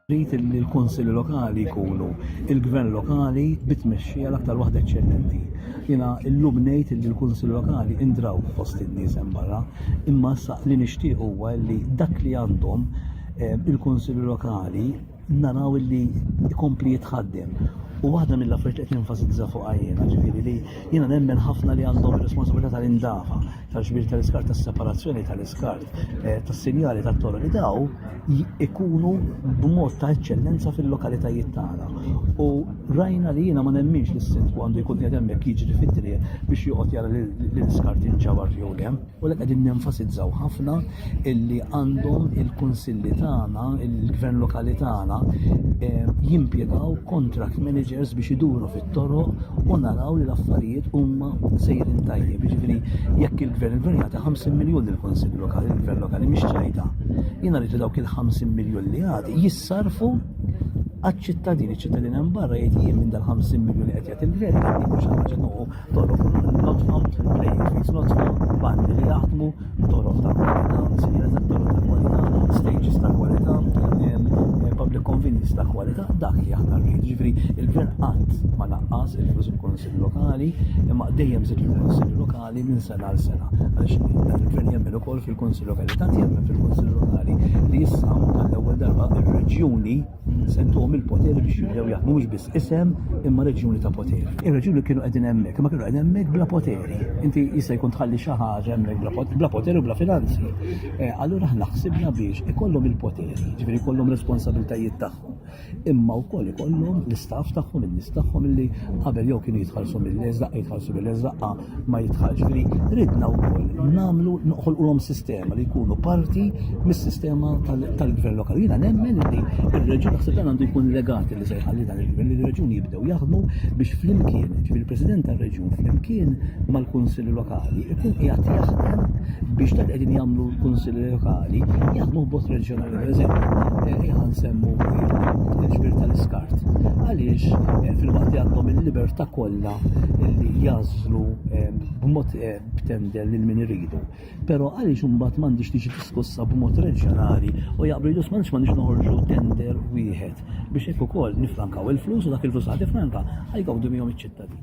Rrid li l-Kunsilli Lokali jkunu il-Gvern Lokali bi tmexxija l-aktar waħda eċċellenti. Jiena llum ngħid li l-Kunsilli Lokali indraw fost in-nies hemm barra, imma issa li nixtieq huwa li dak li għandhom eh, il-Kunsilli Lokali naraw illi ikompli jitħaddem. U waħda mill-affarijiet qed nenfasizza fuq għajjena, ġifieri li jiena nemmen ħafna li għandhom ir-responsabilità tal-indafa, tal-ġbir tal-iskart, tas-separazzjoni tal-iskart, eh, tas-sinjali tat-toroq li daw ikunu b'mod ta' eċċellenza fil-lokalitajiet tagħna. U rajna li jiena ma nemminx li s-sindku għandu jkun qed hemmhekk jiġri fit-triq biex joqgħod jara l-iskart jinġabar jew le. U li qegħdin nenfasizzaw ħafna illi għandhom il-kunsilli tagħna, il-gvern lokali tagħna eh, jimpjegaw contract managers biex iduru fit-toroq u naraw li l-affarijiet huma sejrin tajjeb. Jiġifieri jekk il-gvern il-gvern jagħti 50 miljun il-kunsill lokali, il-gvern lokali mhix ċajta. Jiena rridu dawk il-50 miljun li għati jissarfu għal ċittadini ċittadini barra jgħid jien minn dal-50 miljun qed jagħti il-gvern, jgħid mhux ħaġa Toroq, not found players, not found bandi li jaħdmu toroq ta' kwalità, sinjera ta' toroq ta' kwalità, stages ta' kwalità, public convenience ta' kwalità, dak li aħna rrid. Ġifri, il-gvern qatt ma naqqas il-flus il-Konsil Lokali, imma dejjem zid il-Konsil Lokali minn sena għal sena. Għaliex il-gvern jemmen ukoll fil-Konsil Lokali, tant jemmen fil-Konsil Lokali li issa għall-ewwel darba ir-reġjuni Se ntuhom il-poter biex jibdew jaħdmu mhux biss isem imma reġjuni ta' poter. Ir-reġjuni kienu qegħdin hemmhekk, imma kienu qegħdin hemmhekk bla poteri. Inti jista' jkun tħalli xi ħaġa hemmhekk bla poteri u bla finanzi. Eh, allura aħna ħsibna biex ikollhom il-poteri, ġifieri jkollhom responsabilitajiet tagħhom. Imma wkoll ikollhom l-istaff tagħhom, in-nies tagħhom illi qabel jew kienu jitħallsu mill-leżaq, jitħallsu mill-leżaqqa ma jitħallx. Ġifieri ridna wkoll nagħmlu noħolqulhom sistema li jkunu parti mis-sistema tal-gvern lokali. Jiena nemmen li r-reġun naħseb dan għandu jkun legati li se jħalli dan il-gvern li r-reġun jibdew jaħdmu biex flimkien, ġifieri il-President tar-reġun flimkien mal-Kunsill Lokali ikun qiegħed jaħdem biex dak qegħdin jagħmlu l-Kunsill Lokali jaħdmu b'mod reġjonali. Per eżempju, eh, nsemmu l-ġbir tal-iskart. Għaliex eh, fil-waqt li għandhom il-libertà kollha li jażlu ehm, b'mod eh, b'tendel lil min iridu. Però għaliex imbagħad m'għandix tiġi diskussa b'mod reġjonali u jaqblu jidus m'għandix m'għandix noħorġu tender wieħed biex hekk ukoll nifrankaw il-flus u dak il-flus ħad ifranka ħajgawdu miegħu iċ-ċittadin.